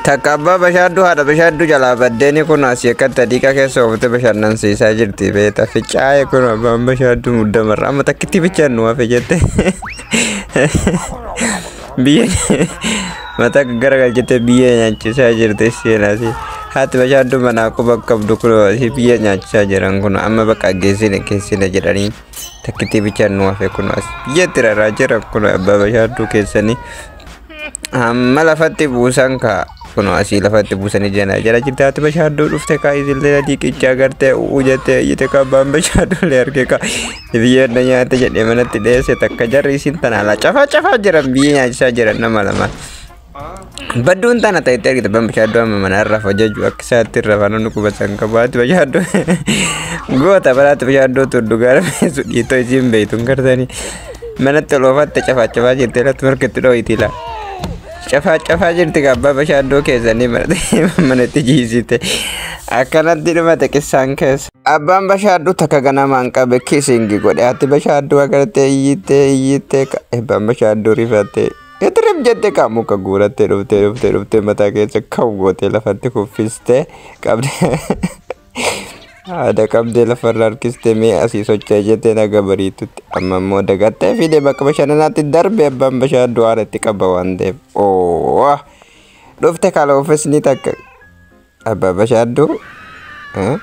Takka abbaa bashaadduu haadha bashaadduu jalaa baddeeni kun asii akkatti adiiqa keessa oofte bashannansiisaa jirti beeta ficaa'ee kun abbaan bashaadduu muddamarra amma takkitti bichaan nu hafe jette biyya mataa garagalchite biyya nyaachisaa jirti seenaasi haati bashaadduu manaa quba qabdu kun asii biyya nyaachisaa jiran kun amma bakka geessine keessine jedhanii takkitti bichaan nu hafe kun as biyyatti raraa jiran kun abbaa bashaadduu keessanii Amma lafatti buusan kaa. Kunoo asii lafatti buusanii jana jala jirte haati bashaadduu dhufte kaa isillee adii qichaa gartee u'uu jettee iyyite kaa abbaan bashaadduullee arge kaa biyyeen na nyaate jedhee manatti dheesse takka jarri isin tana alaa cafaa cafaa jiran biyyee nyaachisaa jiran nama lama. Badduun tana ta'etti argite abbaan bashaadduu amma mana irraa hojjechuu akka isaatti irra faana nu qubasan qabu haati bashaadduu goota baraatti bashaadduu tuddu gaara beesu dhiitoo isiin beeytuun gartanii Manatti ol oofaatte cafaacafaa jirti irratti markatti dhooyti laa. Cafaacafaa jirti gabbaa bashaaddoo keessanii manatti jiisite. Akkanatti dhumate qissaan keessa. Abbaan bashaaddu takka ganamaan qabe kisingi godhe ati bashaaddu agartee iyyittee iyyittee abbaan bashaaddu rifattee itirif jette kaa muka guurattee dhuftee dhuftee dhuftee mataa keessa kan gootee lafatti kuffistee qabdee. Haadha qabdee lafarra harkiste mee asii socho'e jettee naga bariitutti. Amma immoo dagattee fiidee bakka bashannanaatti darbe abbaan bashaa du'aara itti qaba waan ta'eef. Oo! Dhufte kaloofisni takka. Abbaa bashaadduu? Eh?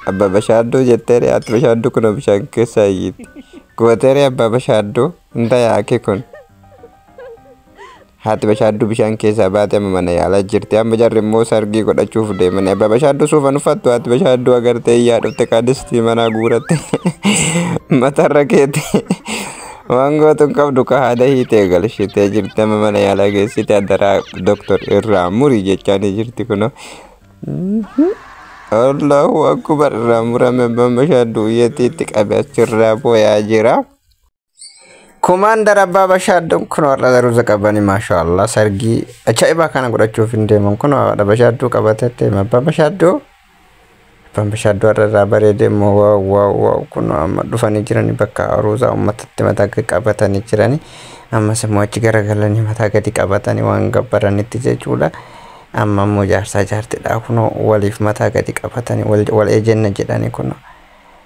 Abbaa bashaadduu jettee dhiyaatti bashaadduu kun bishaan keessaa iyyitti. Gooteeree abbaa bashaadduu? Hin tayaa akki kun. Haati bashaadduu bishaan keessaa baate amma mana yaalaa jirti. Amma jarri immoo sargii godhachuuf deemanii abbaa bashaadduu suufan uffattu haati bashaadduu agartee iyyaa dhufte kaadistii manaa guuratte matarra keete. Waan gootuun qabdu ka haada hiitee galshitee jirti amma mana yaalaa geessite addaraa doktor irraa muri jechaanii jirti kunoo. Allahu akbar irraa murame abbaan bashaadduu iyyatiitti qabe achirraa booyaa jira. Komaandar Abbaa Bashaaddoon kun warra daruusa qabanii maashaa Allah sargii ajaa'ibaa kana godhachuuf hin deeman kun haadha Bashaaddoo qabatee deema Abbaa Bashaaddoo Abbaan Bashaaddoo warra irraa bareedee immoo waaw waaw waaw kun amma dhufanii jiranii bakka aruusaa uummatatti mataa gadi qabatanii jiranii ammas immoo achi garagalanii mataa gadi qabatanii waan gabbaranitti jechuudha. Amma immoo jaarsaa jaartidhaa kunoo waliif mataa gadi qabatanii wal wal ejenna jedhanii kunoo.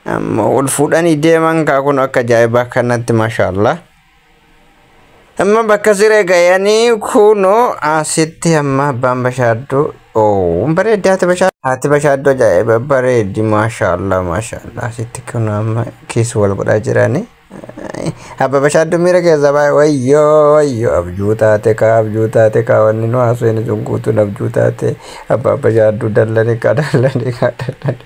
Amma wal fuudhanii deeman kaa kun akka ajaa'ibaa kanatti mashaallah. Amma bakka siree gayanii kunoo asitti amma abbaan bashaadduu oo bareeddi haati bashaadduu haati bashaadduu ajaa'iba bareeddi mashaallah mashaallah asitti kunoo amma kiis wal godhaa jiranii. Abba bashaadduu miira keessa baay'ee wayyoo wayyoo abjuu taate kaa abjuu taate kaa wanni nu haasofne sun guutuun abjuu taate abbaa bashaadduu dallanii kaa dallanii kaa dallanii.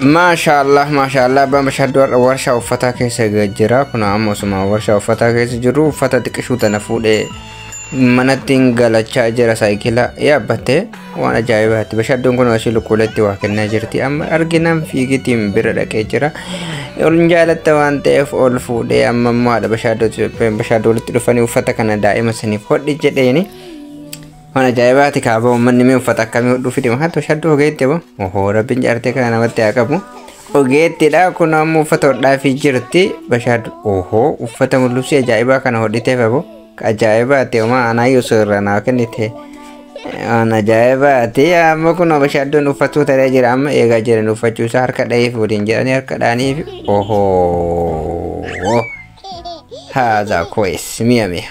Maashaallah maashaallah abbaan bashaadduu har'a warshaa uffataa keessa jira kun ammoo osuma warshaa uffataa keessa jiru uffata xiqqishuu tana fuudhee manattiin galachaa jira saayikila yaabbattee waan ajaa'ibaatti bashadduun kun ashii lukkuuleetti waa kennaa jirti amma arginaan fiigitiin bira dhaqee jira ol jaalatta waan ta'eef ol fuudhee amma immoo haadha bashaaddoo bashaaddoo walitti dhufanii uffata kana daa'ima saniif hodhi jedheeni waan ajaa'ibaatti kaaba uummanni mee uffata akkamii hodhuu fide mahaatti bashaaddoo ogeetti abo ohoo rabbiin jaartee kana namatti haa qabu ogeettidha kun ammoo uffata hodhaa fi jirti bashaaddoo ohoo uffata mul'isii ajaa'ibaa kana hodhiteef abo Ajaa'ibaati homaa anaa yuusuu irraa naa kennite. Waan ajaa'ibaati amma kun bashaaddoon uffatuu ta'ee jira amma eegaa jiran uffachuu isaa harka dhahee fuudhin jedhanii harka dhahanii fi ohoo. Haadha koes mi'a mi'a.